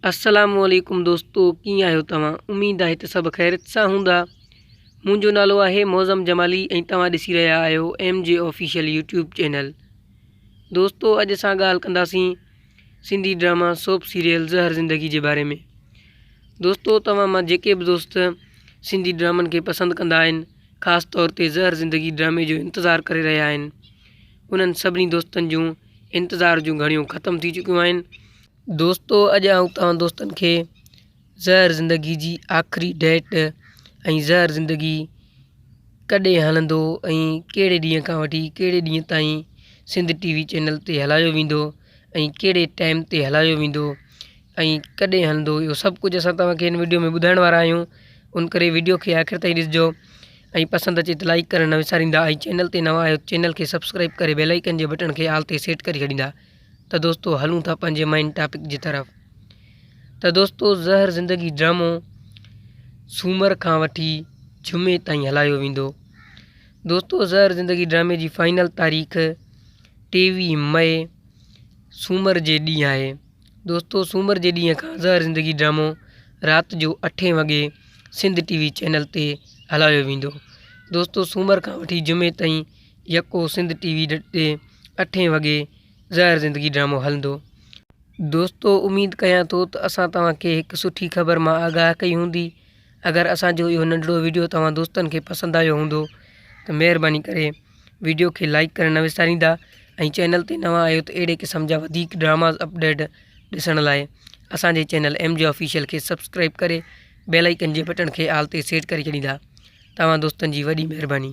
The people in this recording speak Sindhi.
السلام عليڪم دوستو ڪيئن آهيو توهان اميد آهي ته سڀ خيرت سان هوندا منهنجو نالو آهي معظم جمالي ۽ توهان ڏسي رهيا آهيو M G official YouTube channel دوستو اڄ اسان ڳالهه ڪنداسين Sindhi drama soap serial Zehar Zindagi جي باري ۾ دوستو توهان مان جيڪي به دوست سنڌي ڊرامن کي پسند ڪندا آهن خاص طور تي زهر زندگي ڊرامي جو انتظار ڪري رهيا آهن انهن سڀني دوستن جون انتظار جون گهڙيون ختم ٿي چڪيون آهن دوستو اڄ آئون توهان دوستن کي زهر زندگي جي آخري ڊيٽ ۽ زهر زندگي ڪڏهن هلندو ۽ ڪهڙي ڏينهن کان وٺي ڪهڙي ڏينهن تائين سنڌ ٽي وي چينل تي هلايو ويندو ۽ ڪهڙي ٽائيم تي هلايو ويندو ۽ ڪڏهن هلندو اهو سڀ ڪجهه اسان توهان کي هن وڊيو ۾ ٻڌائڻ وارا آهيون ان ڪري وڊيو کي آخر تائين ڏسجو ۽ پسند اچي ته لائڪ ڪرڻ نه وساريندا ۽ چينل تي نوان آهيو چينل کي سبسڪرائب ڪري بيل آئڪن جي بٽڻ کي آل تي سيٽ ڪري ڇڏيندا ته دوستو هلون ٿا پنهنجي مين ٽاپڪ جي طرف ته دوستو زهر زندگي ڊرامو سومر کان وٺي جمعي تائين هلايو ويندو دوستو زهر زندگي ڊرامي جي فائنل تاريخ ٽيويهه مئي سومر جي ڏينهن آهي دوستو سومر جي ڏينهن کان زهر زندگي ڊرامو رات جو اٺين وڳي سنڌ ٽي وي چينل تي هلايو ويندو دوستو سومر کان وٺي جمعي تائين يڪو سنڌ ٽي وي ڊٽ تي اٺين وڳي زهر زندگي ڊرامو هلندو. دوستو اميد ڪيان ٿو ته اسان توهان کي هڪ سٺي خبر مان آگاهه ڪئي هوندي اگر اسان جو اهو ننڍڙو وڊيو توهان دوستن کي پسند آيو هوندو ته مهرباني ڪري وڊيو کي لائيڪ ڪرڻ نه وساريندا ۽ چينل تي نوان آهيو ته اهڙي قسم جا وڌيڪ ڊراماز اپڊيٽ ڏسڻ لاء اسان جي چينل ايم جي آفيشل کي سبسڪرائيب ڪري بيل آئيڪن جي بٽڻ کي آل تي سيٽ ڪري ڇڏيندا توهان دوستن جي وڏي مهرباني.